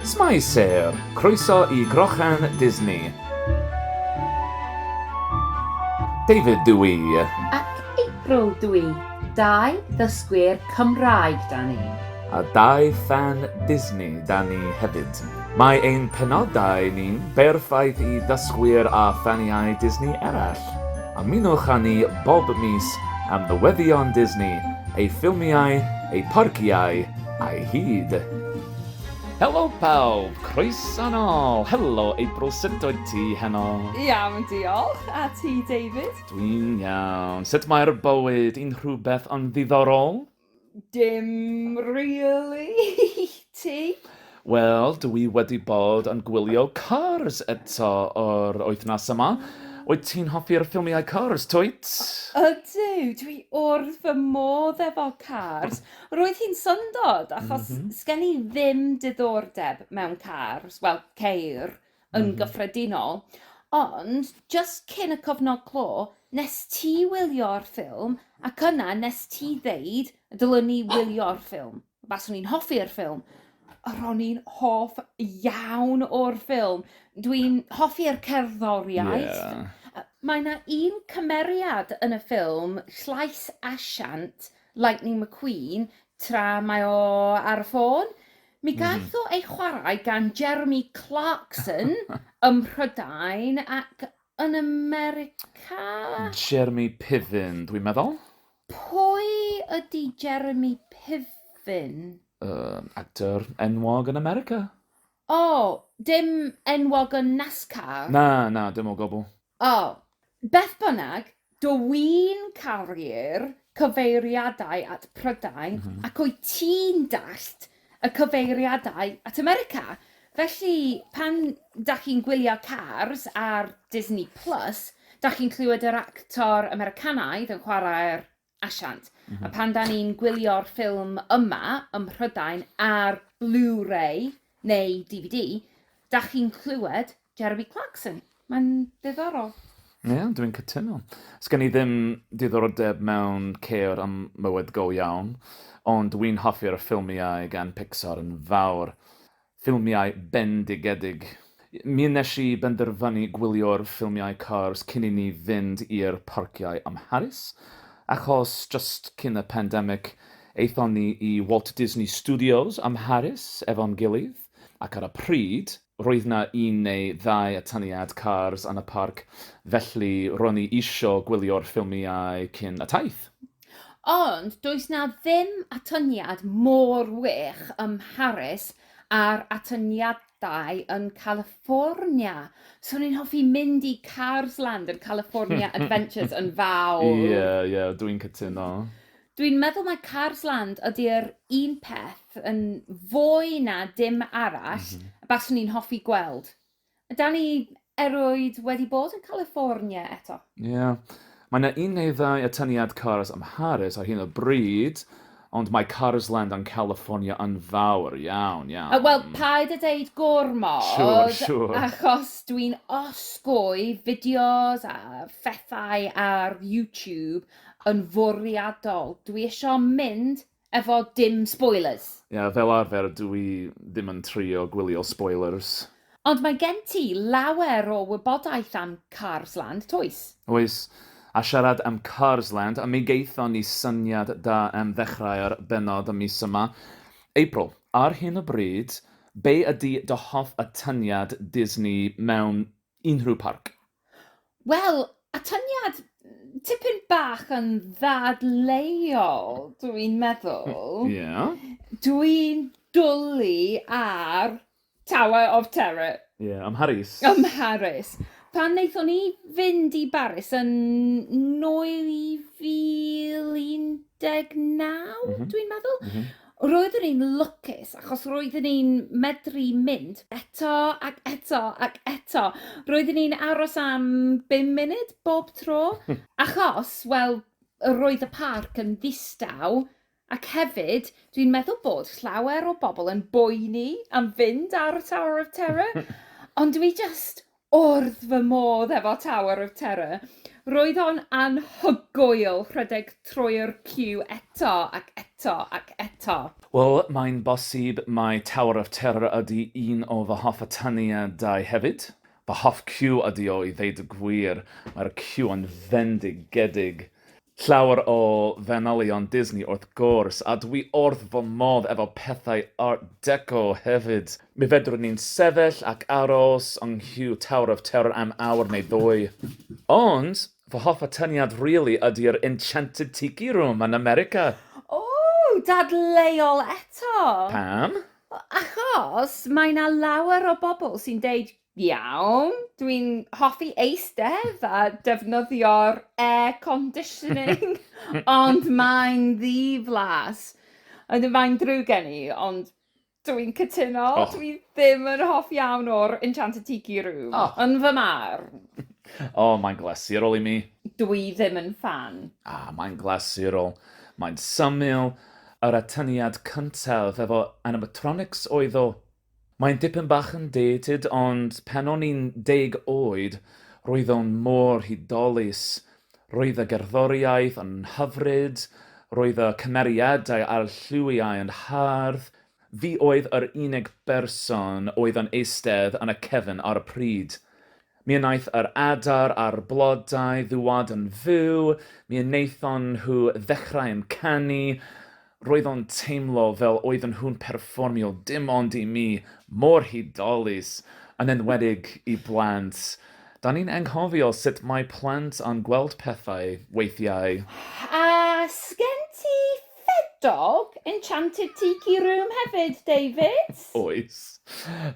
Shwmae Sêr! Croeso i Grochan Disney! David dw i. Ac April dw i. Dau ddysgwyr Cymraeg 'da ni. A dau ffan Disney 'da ni hefyd. Mae ein penodau ni'n berffaith i ddysgwyr a ffaniau Disney eraill. Ymunwch â ni bob mis am newyddion Disney, ei ffilmiau, ei pharciau a'i hyd. Helo pawb! Croeso nôl! Helo April sut wyt ti heno? Iawn diolch, a ti David? Dwi'n iawn. Sut mae'r bywyd? Unrhywbeth yn ddiddorol? Dim rili ti? Wel, dw i wedi bod yn gwylio Cars eto yr wythnos yma. Wyt ti'n hoffi'r ffilmiau Cars, Twyt? Ydw, dw i wrth fy modd efo Cars. Roedd hi'n syndod, achos sgen i ddim diddordeb mewn cars, wel, ceir, yn mm. gyffredinol. Ond, just cyn y cofnod clo, nes ti wylio'r ffilm, ac yna nes ti ddeud, dylwn ni wylio'r ffilm. Baswn i'n hoffi'r ffilm. Ro'n i'n hoff iawn o'r ffilm. Dwi'n hoffi'r cerddoriaeth. Yeah. Mae yna un cymeriad yn y ffilm, llais asiant, Lightning McQueen, tra mae o ar y ffôn. Mi Mhm. gaeth o ei chwarae gan Jeremy Clarkson ym Mhrydain ac yn America? Jeremy Piven, dwi'n meddwl. Pwy ydy Jeremy Piven? Um, actor enwog yn America. O, dim enwog yn NASCAR. Na, na, dim o gwbl. O! Beth bynnag, dw i'n caru'r cyfeiriadau at Prydain ac wyt ti'n dallt y cyfeiriadau at America. Felly, pan dach chi'n gwylio Cars ar Disney Plus, dach chi'n clywed yr actor Americanaidd yn chwarae'r asiant. A pan da ni'n gwylio'r ffilm yma ym Mhrydain ar Blu-ray neu DVD, da chi'n clywed Jeremy Clarkson. Mae'n ddiddorol. Ie, yeah, dwi'n cytuno. Sgen i ddim diddordeb mewn ceir am mywyd go iawn, ond wy'n hoffi'r ffilmiau gan Pixar yn fawr. Ffilmiau bendigedig. Mi wnes i benderfynu gwylio'r ffilmiau Cars cyn i ni fynd i'r parciau ym Mharis, achos jyst cyn y pandemic, aethon ni i Walt Disney Studios ym Mharis efo'n gilydd, ac ar y pryd, roedd 'na un neu ddau atyniad Cars yn y parc, felly ro'n i isio gwylio'r ffilmiau cyn y taith. Ond does 'na ddim atyniad mor wych ym Mharis â'r atyniadau yn California. So o'n i'n hoffi mynd i Cars Land yn California Adventures yn fawr. Ie, yeah, ie, yeah, dwi'n cytuno. Dwi'n meddwl mae Cars Land ydy'r un peth yn fwy na dim arall mm -hmm. baswn i'n hoffi gweld. Yda ni erioed wedi bod yn California eto? Ie. Yeah. Mae yna un neu ddau atyniad Cars am Harris ar hyn o bryd, ond mae Cars Land yn California yn fawr iawn, iawn. Wel, paid a deud gormod. Siwr, siwr. Achos dwi'n osgoi fideos a phethau ar YouTube yn fwriadol. Dwi eisiau mynd Efo dim spoilers? Ie, fel arfer dw i ddim yn trio gwylio spoilers. Ond mae gen ti lawer o wybodaeth am Cars Land, toes? Oes, a siarad am Cars Land, mi gaethon ni syniad da am ddechrau'r bennod y mis yma. April, ar hyn o bryd, be ydy dy hoff atyniad Disney mewn unrhyw parc? Wel, atyniad tipyn bach yn ddadleuol, dwi'n meddwl. Ie. Yeah. Dwi'n dwlu ar Tower of Terror. Ie, yeah, ym Mharis. Ym Mharis. Pan wnaethon ni fynd i Baris yn 2019, mm -hmm. dwi'n meddwl, mm -hmm. Roeddwn i'n lwcus achos roeddwn i'n medru mynd eto ac eto ac eto. Roeddwn i'n aros am bum munud bob tro, achos, wel, roedd y parc yn ddistaw, ac hefyd, dwi'n meddwl bod llawer o bobl yn boeni am fynd ar y Tower of Terror, ond dwi jyst wrth fy modd efo Tower of Terror. Roedd o'n anhygoel rhedeg trwy'r ciw eto ac eto ac eto. Wel, mae'n bosib mai Tower of Terror ydy un o fy hoff atyniadau hefyd. Fy hoff ciw ydy o i ddeud y gwir, mae'r ciw yn fendigedig. Llawer o fanylion Disney wrth gwrs, a dwi wrth fy modd efo pethau Art Deco hefyd. Mi fedrwn ni'n sefyll ac aros yng nghyu Tower of Terror am awr neu ddwy. Ond, fy hoff atyniad rili ydi'r Enchanted Tiki Room yn America. Ww! Dadleuol eto! Pam? Achos mae 'na lawer o bobl sy'n deud Iawn, dwi'n hoffi eistedd a defnyddio'r air conditioning, ond mae'n ddiflas. Ond mae'n drwg gen i, ond dwi'n cytuno, oh. dwi ddim yn hoff iawn o'r Enchanted Tiki Room, oh. yn fy mar. O, oh, mae'n glasurol i mi. Dwi ddim yn fan. Ah, mae'n glasurol. Mae'n syml. Yr atyniad cyntaf efo animatronics oedd o Mae'n dipyn bach yn dated ond pan o'n i'n deg oed roedd o'n mor hudolus. Roedd y gerddoriaeth yn hyfryd, roedd y cymeriadau a'r lliwiau yn hardd. Fi oedd yr unig berson oedd yn eistedd yn y cefn ar y pryd. Mi wnaeth yr adar a'r blodau ddŵad yn fyw, mi wnaethon nhw ddechrau yn canu, roedd o'n teimlo fel oedden nhw'n perfformio dim ond i mi, mor hudolus, yn enwedig i blant. Da ni'n anghofio sut mae plant yn gweld pethau, weithiau. A sgen ti Fed dog, enchanted tiki room hefyd, David? Oes.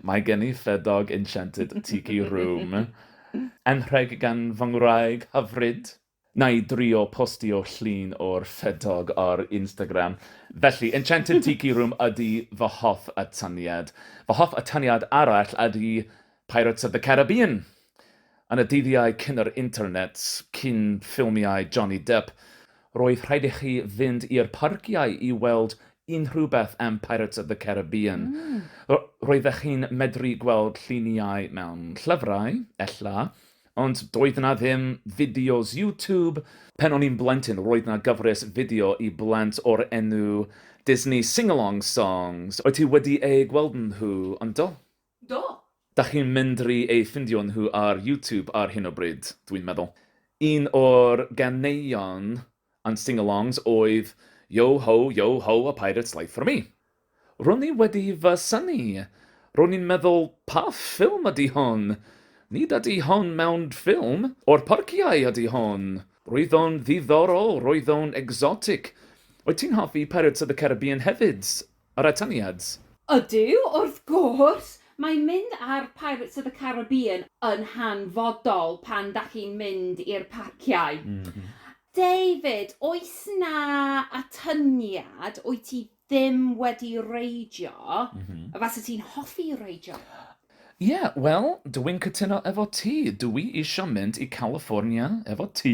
Mae gen i fed dog, enchanted tiki room. Anrheg gan fy ngwraig hyfryd. Wna i drio postio llun o'r fed dog ar Instagram. Felly, enchanted tiki room ydy fy hoff atyniad. Fy hoff atyniad arall ydy Pirates of the Caribbean. Yn y dyddiau cyn yr internet, cyn ffilmiau Johnny Depp, roedd rhaid i chi fynd i'r parciau i weld unrhyw beth am Pirates of the Caribbean. Roeddech chi'n medru gweld lluniau mewn llyfrau, ella, ond doedd yna ddim fideos YouTube. Pan o'n i'n blentyn, roedd yna gyfres fideo i blant o'r enw Disney Sing-Along Songs. Wyt ti wedi eu gweld nhw, yndo? Do! Dach chi'n mendri eu ffindio nhw ar YouTube ar hyn o bryd, dwi'n meddwl. Un o'r ganeuon and sing-alongs oedd Yo ho, yo ho, a pirate's life for me. Ro'n i wedi fy synnu, ro'n i'n meddwl 'pa ffilm ydy hon? Nid ydy hon mewn ffilm o'r parciau ydy hon? Roedd o'n ddiddorol, roedd o'n exotic. Wyt ti'n hoffi Pirates of the Caribbean hefyd, Yr atyniad. Ydyw, wrth gwrs! Mae mynd ar Pirates of the Caribbean yn hanfodol pan dach chi'n mynd i'r parciau. David, oes 'na atyniad wyt ti ddim wedi reidio, a fase ti'n hoffi reidio? Ie, wel, dw i'n cytuno efo ti, dw i isio mynd i California efo ti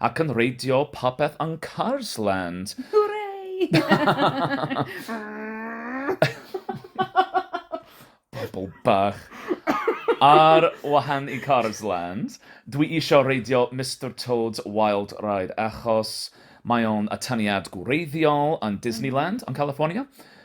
ac yn reidio popeth yn Cars Land! Hwrei! Bobl bach! Ar wahan i Cars Land, dw i isio reidio Mister Toad's Wild Ride achos mae o'n atyniad gwreiddiol yn Disneyland yn California.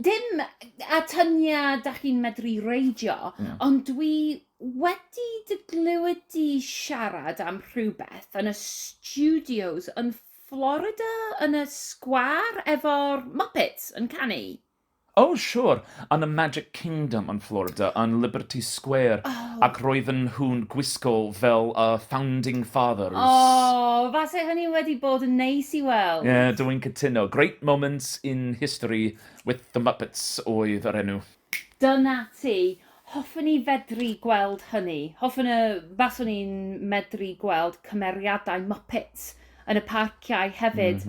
dim atyniad da chi'n medru reidio, yeah. ond dwi wedi dy glywed di siarad am rhywbeth yn y studios yn Florida, yn y sgwar efo'r Muppets yn canu. Oh, sure. Yn y Magic Kingdom yn Florida, yn Liberty Square. Oh. Ac roedden nhw'n gwisgo fel y uh, Founding Fathers. Oh, fase hynny wedi bod yn neis i weld. Ie, yeah, dwi'n cytuno. Great moment, in History with the Muppets oedd yr enw. Dyna ti! Hoffwn i fedru gweld hynny. Hoffwn y baswn i'n medru gweld cymeriadau Muppets yn y parciau hefyd.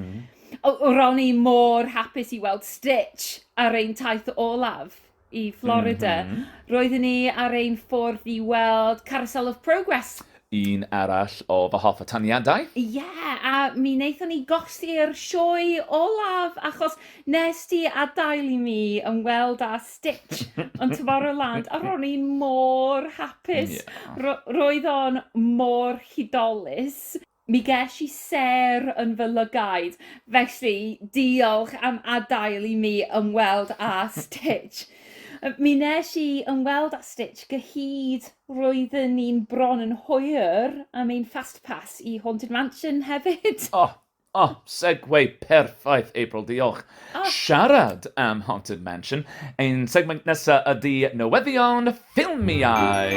O, ro'n i mor hapus i weld Stitch ar ein taith olaf. i Florida. Mm -hmm. Roeddwn ni ar ein ffordd i weld Carousel of Progress. Un arall o fy hoff ataniadau. Ie, yeah, a mi wnaethon ni golli'r sioe olaf achos nes ti adael i mi ymweld â Stitch yn Tomorrowland a ro'n i mor hapus. Yeah. Ro roedd o'n mor hudolus. Mi gesh i sêr yn fy lygaid, felly diolch am adael i mi ymweld â Stitch. Mi nes i ymweld â Stitch gyhyd, roedden ni'n bron yn hwyr am ein Fast Pass i Haunted Mansion hefyd! O! O! Segway perffaith, April, diolch! Siarad am Haunted Mansion, ein segment nesa ydi newyddion Ffilmiau!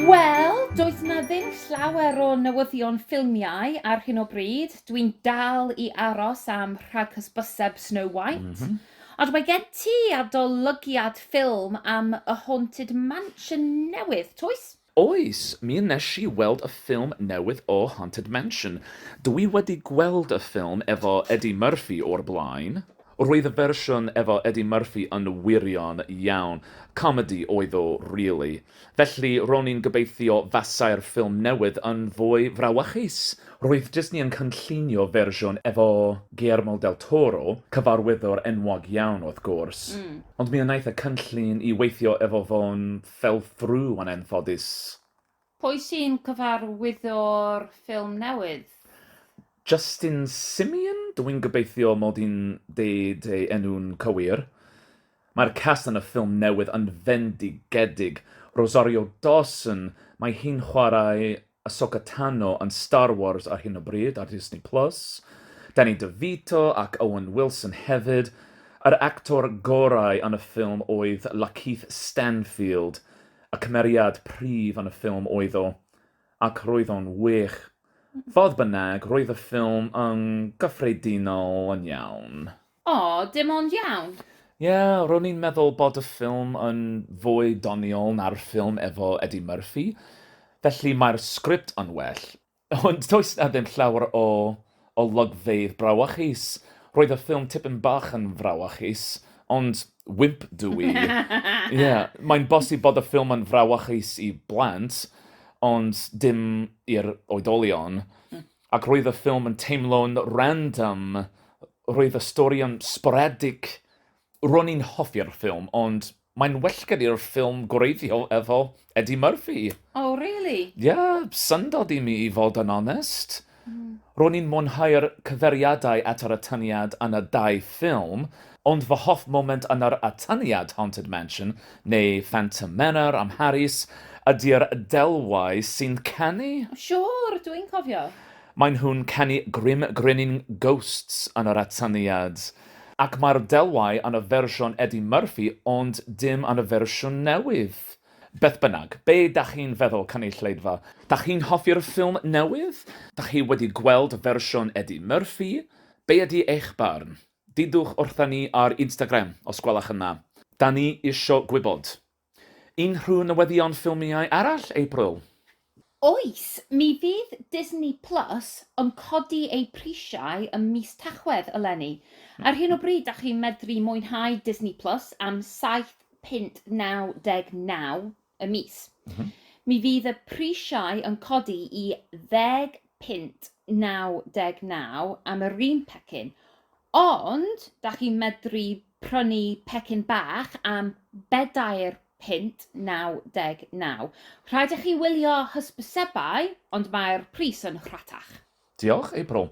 Wel, does 'na ddim llawer o newyddion ffilmiau ar hyn o bryd. Dwi'n dal i aros am rhaghysbyseb Snow White. Ond mae gen ti adolygiad ffilm am y Haunted Mansion newydd, toes? Oes, mi wnes i weld y ffilm newydd o Haunted Mansion. Dw i wedi gweld y ffilm efo Eddie Murphy o'r blaen. Roedd y fersiwn efo Eddie Murphy yn wirion iawn. Comedi oedd o rili. Felly, ro'n i'n gobeithio fasai'r ffilm newydd yn fwy frawychus. Roedd Disney yn cynllunio fersiwn efo Guillermo del Toro, cyfarwyddwr enwog iawn wrth gwrs, ond mi wnaeth y cynllun i weithio efo fo'n Fell through yn anffodus. Pwy sy'n cyfarwyddo'r ffilm newydd? Justin Simien? Dw i'n gobeithio mod i'n deud ei enw'n cywir. Mae'r cast yn y ffilm newydd yn fendigedig. Rosario Dawson, mae hi'n chwarae Ahsoka Tano yn Star Wars ar hyn o bryd ar Disney Plus, Danny DeVito ac Owen Wilson hefyd, yr actor gorau yn y ffilm oedd Lakeith Stanfield, y cymeriad prif yn y ffilm oedd o, ac roedd o'n wych. Fodd bynnag, roedd y ffilm yn gyffredinol yn iawn. O, dim ond iawn. Ie, ro'n i'n meddwl bod y ffilm yn fwy doniol na'r ffilm efo Eddie Murphy, felly mae'r sgript yn well. Ond does 'na ddim llawer o olygfeydd brawychus. Roedd y ffilm tipyn bach yn frawychus, ond wimp dw i. Ie, mae'n bosib bod y ffilm yn frawychus i blant, ond dim i'r oedolion. Ac roedd y ffilm yn teimlo'n random, roedd y stori yn sporadic, ro'n i'n hoffi'r ffilm, ond mae'n well gen i'r ffilm gwreiddiol efo Eddie Murphy. O, oh, really? Ie, yeah, syndod i mi i fod yn onest. Mm. Ro'n i'n mwynhau'r cyferiadau at yr atyniad yn y dau ffilm, Ond fy hoff foment yn yr atyniad Haunted Mansion, neu Phantom Manor am Harris, ydi'r Delwau sy'n canu. Siŵr, dw i'n cofio. Maen nhw'n canu Grim Grinning Ghosts yn yr atyniad. Ac mae'r Delwau yn y fersiwn Eddie Murphy ond dim yn y fersiwn newydd. Beth bynnag, be dach chi'n feddwl, cynulleidfa? Dach chi'n hoffi'r ffilm newydd? Dach chi wedi gweld y fersiwn Eddie Murphy? Be ydi eich barn? Dudwch wrtha ni ar Instagram os gwelwch yn dda. Da ni isio gwybod. Unrhyw newyddion ffilmiau arall, April? Oes, mi fydd Disney Plus yn codi eu prisiau ym mis Tachwedd eleni. Ar hyn o bryd dach chi'n medru mwynhau Disney Plus am saith punt naw deg naw y mis. Mm -hmm. Mi fydd y prisiau yn codi i ddeg punt 99 am yr un pecyn. Ond, da chi'n medru prynu pecyn bach am bedair punt 99. Rhaid i chi wylio hysbysebau, ond mae'r pris yn rhatach. Diolch, April.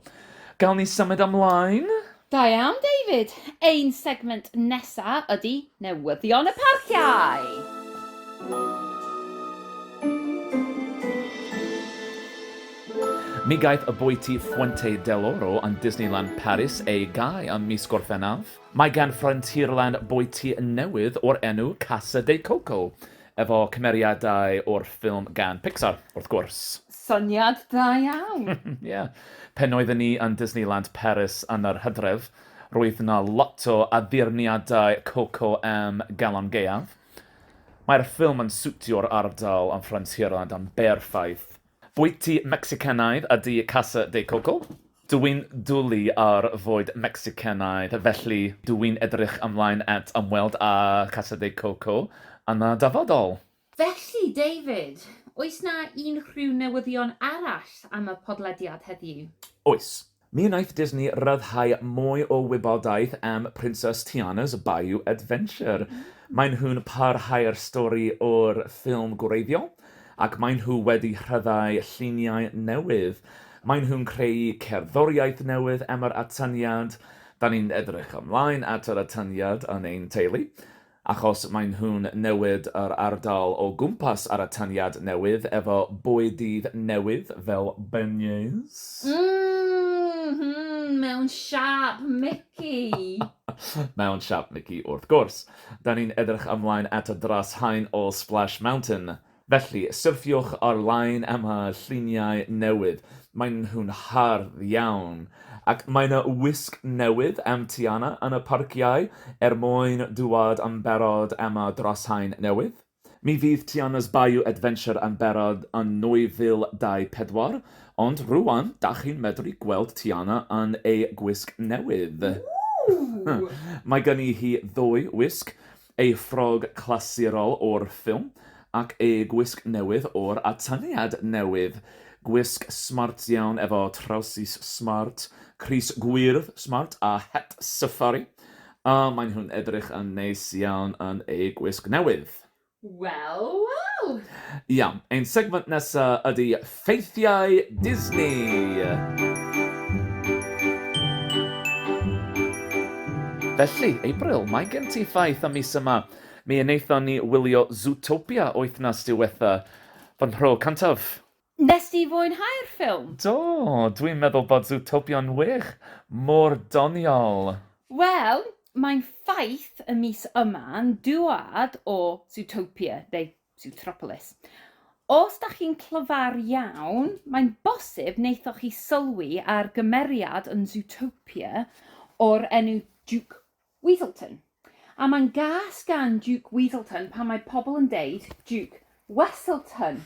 Gawn ni symud ymlaen? Da iawn, David. Ein segment nesa ydi newyddion y parciau! Mi gaeth y bwyty Fuente del Oro yn Disneyland Paris ei gau ym mis Gorffennaf. Mae gan Frontierland bwyty newydd o'r enw Casa de Coco, efo cymeriadau o'r ffilm gan Pixar, wrth gwrs. Syniad da iawn! Ie. Pen oedden ni yn Disneyland Paris yn yr hydref, roedd 'na lot o addurniadau Coco am galon gaeaf. Mae'r ffilm yn siwtio'r ardal am Frontierland yn berffaith. Bwyty Mecsicanaidd ydy Casa de Coco. Dw i'n dwlu ar fwyd Mecsicanaidd, felly dw i'n edrych ymlaen at ymweld â Casa de Coco yn y dyfodol. Felly, David, oes 'na unrhyw newyddion arall am y podlediad heddiw? Oes. Mi wnaeth Disney ryddhau mwy o wybodaeth am Princess Tiana's Bayou Adventure. Maen nhw'n parhau'r stori o'r ffilm gwreiddiol, ac maen nhw wedi rhyddhau lluniau newydd. Maen nhw'n creu cerddoriaeth newydd am yr atyniad. Da ni'n edrych ymlaen at yr atyniad yn ein teulu. Achos maen nhw'n newid yr ardal o gwmpas ar atyniad newydd efo bwydydd newydd fel beignets. M-hm, mewn siâp Mici! Mewn siâp Mici wrth gwrs. Da ni'n edrych ymlaen at y dros haen o Splash Mountain. Felly, syrthiwch ar-lein am y lluniau newydd. Maen nhw'n hardd iawn. Ac mae 'na wisg newydd am Tiana yn y parciau er mwyn dŵad yn barod am y drasain newydd. Mi fydd Tiana's Bayou Adventure yn barod yn 2024, ond rŵan, dach chi'n medru gweld Tiana yn ei gwisg newydd. Ww! Mae gen i hi ddwy wisg, Ei ffrog clasurol o'r ffilm ac ei gwisg newydd o'r atyniad newydd. Gwisg smart iawn efo trawsus smart, crys gwyrdd smart a het safari. O, maen nhw'n edrych yn neis iawn yn eu gwisg newydd. Wel, wel! Iawn, ein segment nesa ydi Ffeithiau Disney! Felly, April, mae gen ti ffaith am mis yma. Mi wnaethon ni wylio Zootopia wythnos diwetha'. Fy nhro cyntaf. Wnest ti fwynhau'r ffilm? Do, dwi'n meddwl bod Zootopia'n wych! Mor doniol! Wel, mae'n ffaith y mis yma'n dwad o Zootopia, neu Zootropolis. Os da chi'n clyfar iawn, mae'n bosib wnaethoch chi sylwi ar gymeriad yn Zootopia o'r enw Duke Weaselton. A mae'n gas gan Duke Weaselton pan mae pobl yn deud Duke Wesselton.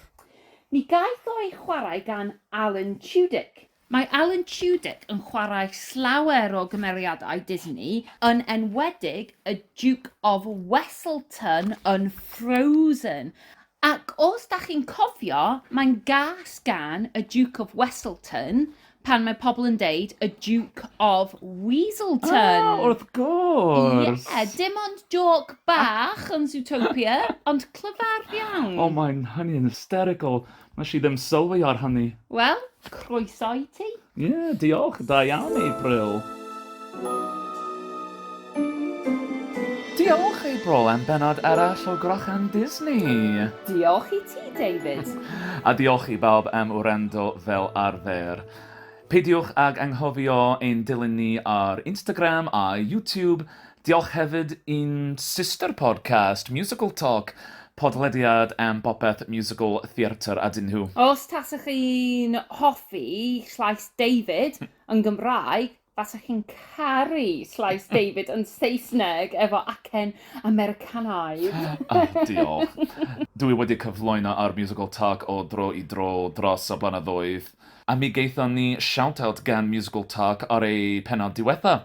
Mi gaeth o ei chwarae gan Alan Tudyk. Mae Alan Tudyk yn chwarae llawer o gymeriadau Disney, yn enwedig y Duke of Weselton yn Frozen. Ac os da chi'n cofio, mae'n gas gan y Duke of Weselton pan mae pobl yn deud y Duke of Weaselton. Ah, wrth gwrs! Ie, dim ond jôc bach yn Zootopia, ond clyfar iawn. O, mae'n, hynny yn hysterical. Wnes i ddim sylwi ar hynny. Wel, croeso i ti. Ie, yeah, diolch. Da iawn, April. Diolch, April, am benod arall o Grochan Disney. Diolch i ti, David. A diolch i bawb am wrando fel arfer. Peidiwch ag anghofio ein dilyn ni ar Instagram a YouTube, Diolch hefyd i'n sister podcast, Musical Talk, podlediad am bopeth musical, theatr a dyn nhw. Os tasech chi'n hoffi llais David yn Gymraeg, fasech chi'n caru llais David yn Saesneg efo acen Americanaidd. O, diolch. Dw i wedi cyflwyno ar Musical Talk o dro i dro dros y blynyddoedd, a mi gaethon ni shout-out gan Musical Talk ar eu pennod diwetha'.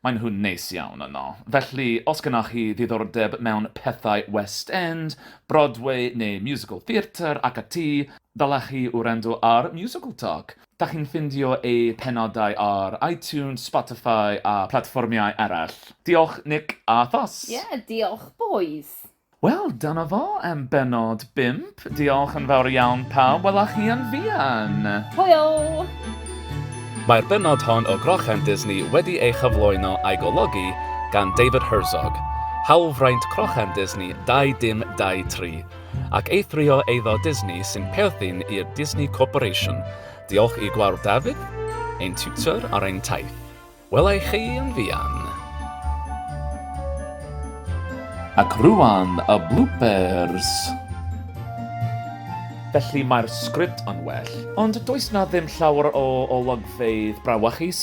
Maen nhw'n neis iawn yno. Felly, os gennoch chi ddiddordeb mewn pethau West End, Broadway neu musical theatre ac ati, ddylech chi wrando ar Musical Talk. Dach chi'n ffindio eu penodau ar iTunes, Spotify a platfformiau eraill. Diolch Nick a Thos. Ie, diolch bois. Wel, dyna fo am bennod bump. Diolch yn fawr iawn pawb, wela chi yn fuan! Hwyl! Mae'r bennod hon o Grochan Disney wedi ei chyflwyno a'i golygu gan David Herzog, hawlfraint Crochan Disney 2023, ac eithrio eiddo Disney sy'n perthyn i'r Disney Corporation. Diolch i Gwawr David, ein tiwtor ar ein taith. Welai chi yn fuan! Ac rŵan y bloopers! Felly mae'r sgript yn well, ond does 'na ddim llawer o olygfeydd brawachus.